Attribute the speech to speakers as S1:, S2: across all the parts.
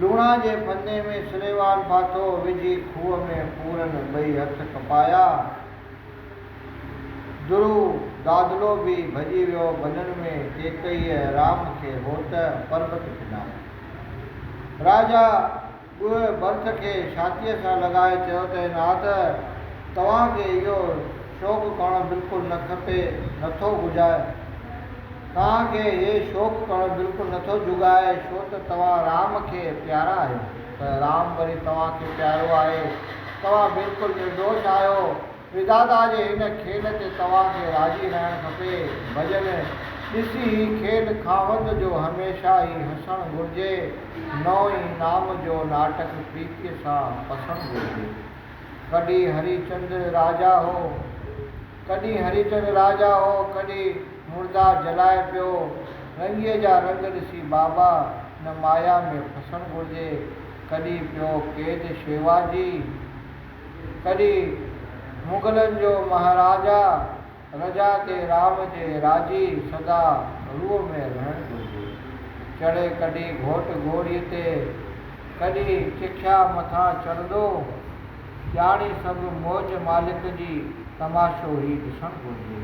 S1: لوڻا جي ڦندي ۾ سليمان ڦاٿو وجهي کوهه ۾ پورن ٻئي هٿ کپايا. درو دادلو به ڀڄي ويو ڀنن ۾ ڪيڪئيء رام کي هوت پربت پناهي. راجا. ڳوهه برٿ کي ڇاتيء سان لڳائي چيو ته عناد، توهان کي اهو شوق ڪرڻ بلڪل نه کپي، نٿو گهجائي. توهان کي هي شوق ڪرڻ بلڪل نٿو جهڳائي، ڇو ته توهان رام کي پيارا آهيو، ته رام وري توهان کي پيارو آهي، توهان بلڪل نردوش آهيو. ادادا جي هن کيل تي توهان کي راضي رهڻ کپي. ڀڄن ڏسي هي کيل خاوند جو هميشه ئي هسڻ گهرجي. نئون ئي نام جو ناٽڪ پريتيء سان پسڻ گهرجي. ڪڏهن هري چند راجا هو، ڪڏهن هري چند راجا هو، ڪڏهن مردا جلائي پيو. رنگيء جا رنگ ڏسي بابا نه مايا ۾ ڦسڻ گهرجي. ڪڏهن پيو قيد شيوا جي. تڏهن مغلن جو مهاراجا رجا کي رام جي راضي سدا روء ۾ رهڻ گهرجي. چڙهي ڪڍي گهوٽ گهوڙي تي ڪڍي چکيا مٿان چڙهندو. ڄاڻي سڀ موج مالڪ جي تماشو هي ڏسڻ گهرجي.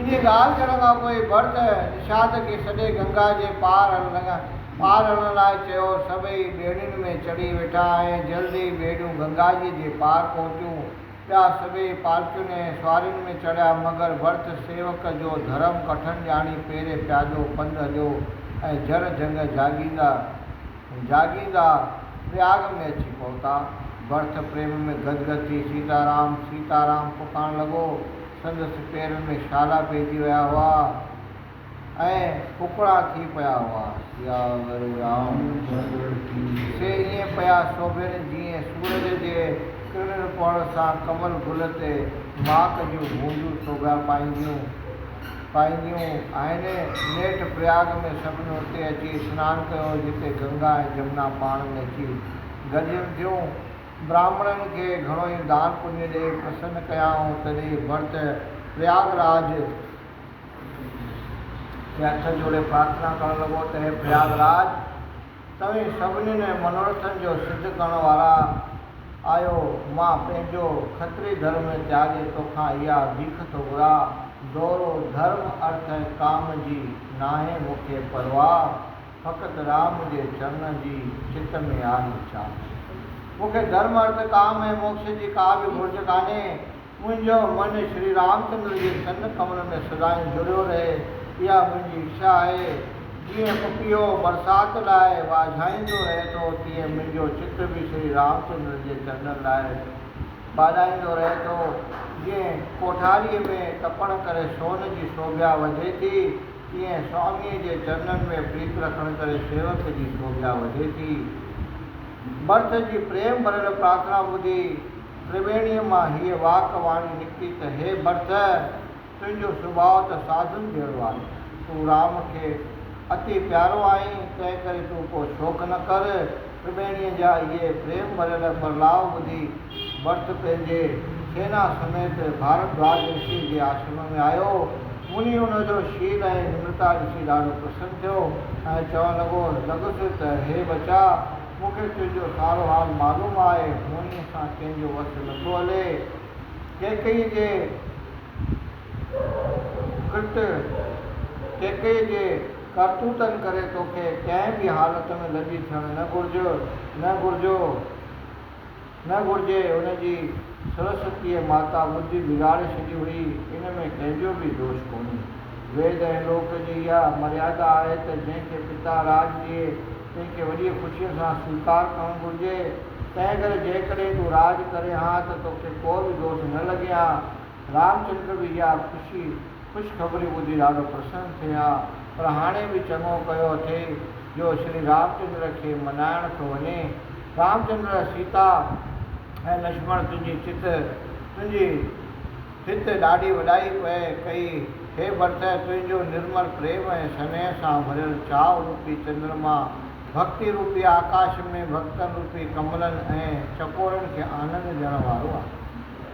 S1: انهيء ڳالهه ڪرڻ کان پوء ڀرت نشاد کي سڏي گنگا جي پار هڻڻ لڳا. پار هڻڻ لاء چيو، سڀئي ٻيڙين ۾ چڙهي ويٺا ۽ جلد ئي ٻيڙيون گنگاجيء جي پار پهتيون. ٻيا سڀئي پالڪين ۽ سوارين ۾ چڙهيا، مگر ڀرت سيوڪ جو ڌرم ڪٺن ڄاڻي پيري پيادو پنڌ هليو ۽ جر جهنگ جاڳيندا جاڳيندا پرياگ ۾ اچي پهتا. ڀرت پريم ۾ گد گد ٿي سيتا رام! سيتا رام! پڪارڻ لڳو. سندس پيرن ۾ شالا پئجي ويا هئا ۽ ڦڪڙا ٿي پيا هئا. ياور رام چندر جي سي ائين پيا سوڀين جيئن سورج جي ڪرڻين پوڻ سان ڪمل گل تي ماڪ جون بوندون سوڀيا پائينديون پائينديون آهن. نيٺ پرياگ ۾ سڀني اتي اچي سنان ڪيو جتي گنگا ۽ جمنا پاڻ ۾ اچي گڏجن ٿيون. براهمڻن کي گهڻو ئي دان پڃ ڏئي پرسن ڪيائون، تڏهن ڀرت پرياگ راج کي هٿ جوڙي پرارٿنا ڪرڻ لڳو ته هي پرياگ راج! توهين سڀنين منوڙٿن جو سڌ ڪرڻ وارا آهيو، مان پنهنجو کتري ڌرم تياڳي توکان اها ڀيک ٿو گهران، دؤرو ڌرم، ارٿ ۽ ڪام جي ناهي مون کي پرواهه. فقط رام جي چرنن جي چت ۾ آهي ڇا؟ مون کي ڌرم، ارٿ، ڪام ۽ موڪش جي ڪا به گهرج ڪانهي. منهنجو من شري رامچندر جي چرن ڪملن ۾ سدائين جڙيو رهي، اها منهنجي اڇا آهي. جيئن پڦيو برسات لاء واجهائيندو رهي ٿو، تيئن منهنجو چت به شري رامچندر جي چرنن لاء ٻاڏائيندو رهي ٿو. جيئن ڪوٺاريء ۾ تپڻ ڪري سون جي سوڀيا وڌي ٿي، تيئن سواميء جي چرنن ۾ پريت رکڻ ڪري سيوڪ جي سوڀيا وڌي ٿي. ڀرت جي پريم ڀريل پرارٿنا ٻڌي تريويڻيء مان هيء واڪ واڻي نڪتي ته هي ڀرت! تنهنجو سڀاء ته ساڌن جهڙو آهي. تون رام کي اتي پيارو آهين، تنهنڪري تون ڪو شوق نه ڪر. تريويڻيء جا اهي پريم ڀريل پرلاء ٻڌي، ڀٽ پنهنجي سينا سميت ڀاردواج رشيء جي آشرم ۾ آيو. مني ان جو شيل ۽ نمرتا ڏسي ڏاڍو پرسن ٿيو ۽ چوڻ لڳو لڳس ته هي ٻچا! مون کي تنهنجو سارو حال معلوم آهي. منيء سان ڪنهن جو وس نٿو هلي. ڪيڪئيء جي ڪرت، ڪيڪئيء جي ڪرتوتن ڪري توکي ڪنهن به حالت ۾ لڄي ٿيڻ نه گهرجو. نه گهرجي، ان جي سرسوتيء ماتا ٻڌي بگاڙي ڇڏي هئي، ان ۾ ڪنهن جو به دوش ڪونهي. ويد ۽ لوڪ جي اها مريادا آهي ته جنهن کي پتا راڄ ڏئي، تنهن کي وڏيء خوشيء سان سويڪار ڪرڻ گهرجي. تنهن ڪري جيڪڏهن تون راڄ ڪرين ها ته توکي ڪو به دوش نه لڳي ها. رامچندر به اها خوشي. خوشخبري ٻڌي ڏاڍو پرسن ٿئي ها، پر هاڻي به چڱو ڪيو اٿئي جو شري رامچندر کي منائڻ ٿو وڃي. رامچندر، سيتا ۽ لڇمڻ تنهنجي چت، تنهنجي هت ڏاڍي وڏائي پئي ڪئي. هي ڀرتئ، تنهنجو نرمل پريم ۽ سنيهه سان ڀريل چاء روپي چندرما، ڀڳتي روپي آڪاش ۾ ڀڳتن روپي ڪملن ۽ چڪورن کي آنند ڏيڻ وارو آهي.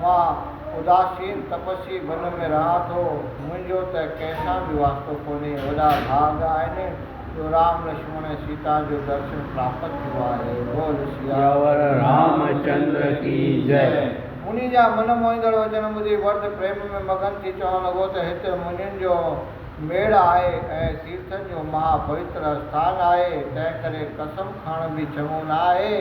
S1: مان اداسين تپسي بن ۾ رهان ٿو، منهنجو ته ڪنهن سان به واسطو ڪونهي، وڏا ڀاڳ آهن جو رام، لڇمڻ ۽ سيتا جو درشن پراپت ٿيو آهي. بول سياور رام چندر
S2: ڪي جئه. مني جا من
S1: موهيندڙ وچن ٻڌي ورڌ پريم ۾ مگن ٿي چوڻ لڳو ته هت منين جو ميڙ آهي ۽ تيرٿن جو مها پوتر اسٿان آهي، تنهن ڪري قسم کڻڻ به چڱو نه آهي.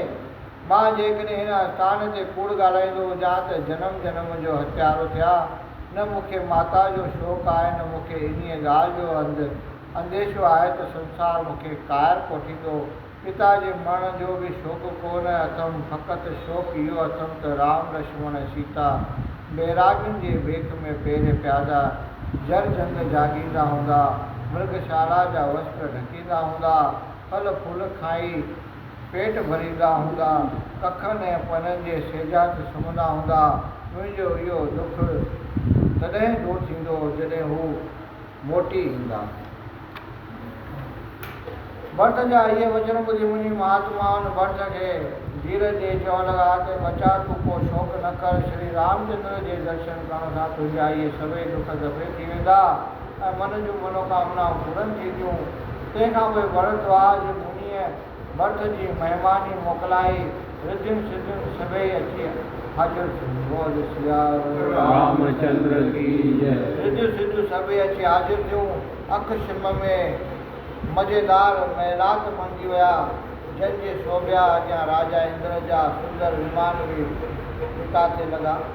S1: مان جيڪڏهن هن استان تي ڪوڙ ڳالهائيندو هجان ته جنم جنم جو هتيارو ٿيا. نه مون کي ماتا جو شوق آهي نه مون کي انهيء ڳالهه جو اند انديشو آهي ته سنسار مون کي قائر ڪوٺيندو. پتا جي مرڻ جو به شوق ڪو نه اٿم فقط شوق اهو اٿم ته رام لشمڻ ۽ سيتا بيراڳين جي بيڪ ۾ پيري پيادا جر جهنگ جاڳيندا هوندا، مرگشالا جا وسڪ ڍڪيندا هوندا. ڦل ڦول کائي پيٽ ڀريندا هوندا، ڪکن ۽ پنن جي سيجا تي سمهندا هوندا، منهنجو اهو ڏک تڏهن دور ٿيندو جڏهن هو موٽي ايندا. ڀرت جا اهي وچن ٻڌي منهنجي مهاتما ان ڀرت کي ڌيرج ڏئي چوڻ لڳا ته ٻچا تون ڪو شوق نه ڪر، شري رامچندر جي درشن ڪرڻ سان تنهنجا اهي سڀئي ڏک دفعي ٿي ويندا. ۽ من جون منوڪامنائون پورن ٿينديون. تنهن کان پوء ورهدوار جي منهيء ڀرت جي مهماني موڪلائي رڌين سڌين سڀيئي اچي حاضر ٿيون. بول سيا رام چندر
S2: ڪي جئه. رڌيون سڌيون سڀيئي
S1: اچي حاضر ٿيون. اک شم ۾ مزيدار محلات بڻجي ويا، جن جي سوڀيا اڳيان راجا اندر جا سندر ومان به اتاتي لڳا.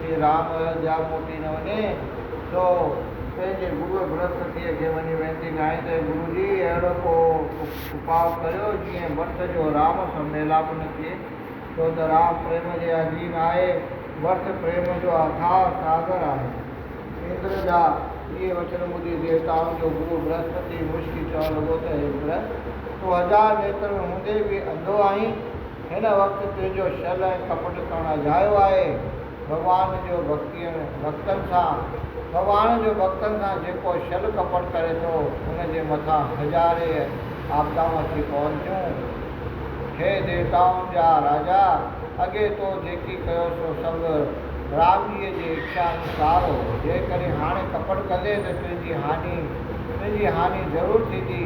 S1: جي رام ايوڌيا موٽي نه وڃي سو پنهنجي گروء برهسپتيء کي وڃي وينتي ڪيائين ته، اي گرو جي! اهڙو ڪو اپاء ڪريو، جيئن ڀرت جو رام سان ميلاپ نه ٿئي، ڇو ته رام پريم جي اڌين آهي، ڀرت پريم جو اٿاهه ساگر آهي. اندر جا اهي وچن ٻڌي ديوتائن جو گرو برهسپتي مشڪي چوڻ لڳو ته، اي اندر! تون هزار نيترن هوندي به انڌو آهين. هن وقت تنهنجو شل ۽ ڪپٽ ڪرڻ اجايو آهي. ڀڳوان جو ڀڳتين ڀڳتن سان، ڀڳوان جو ڀڳتن سان جيڪو شل ڪپٽ ڪري ٿو، ان جي مٿان هزارين آپدائون اچي پون ٿيون. هي ديوتائن جا راجا! اڳي تو جيڪي ڪيو سو سڀ رام جيء جي اڇا انوسار هو. جيڪڏهن هاڻي ڪپٽ ڪندين ته تنهنجي هاڃي ان جي هاڃي ضرور ٿيندي.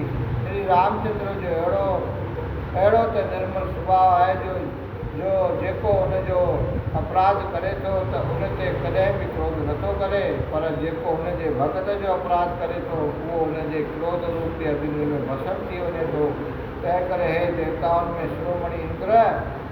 S1: شري رامچندر جو اهڙو اهڙو ته نرمل سڀاء آهي جو جو جيڪو ان جو اپراڌ ڪري ٿو ته ان تي ڪڏهن به ڪروڌ نه ٿو ڪري پر جيڪو هن جي ڀڳت جو اپراڌ ڪري ٿو اهو ان جي ڪروڌ روپي اگني ۾ ڀسم ٿي وڃي ٿو تنهن ڪري هي ديوتائن ۾ شرومڻي اندر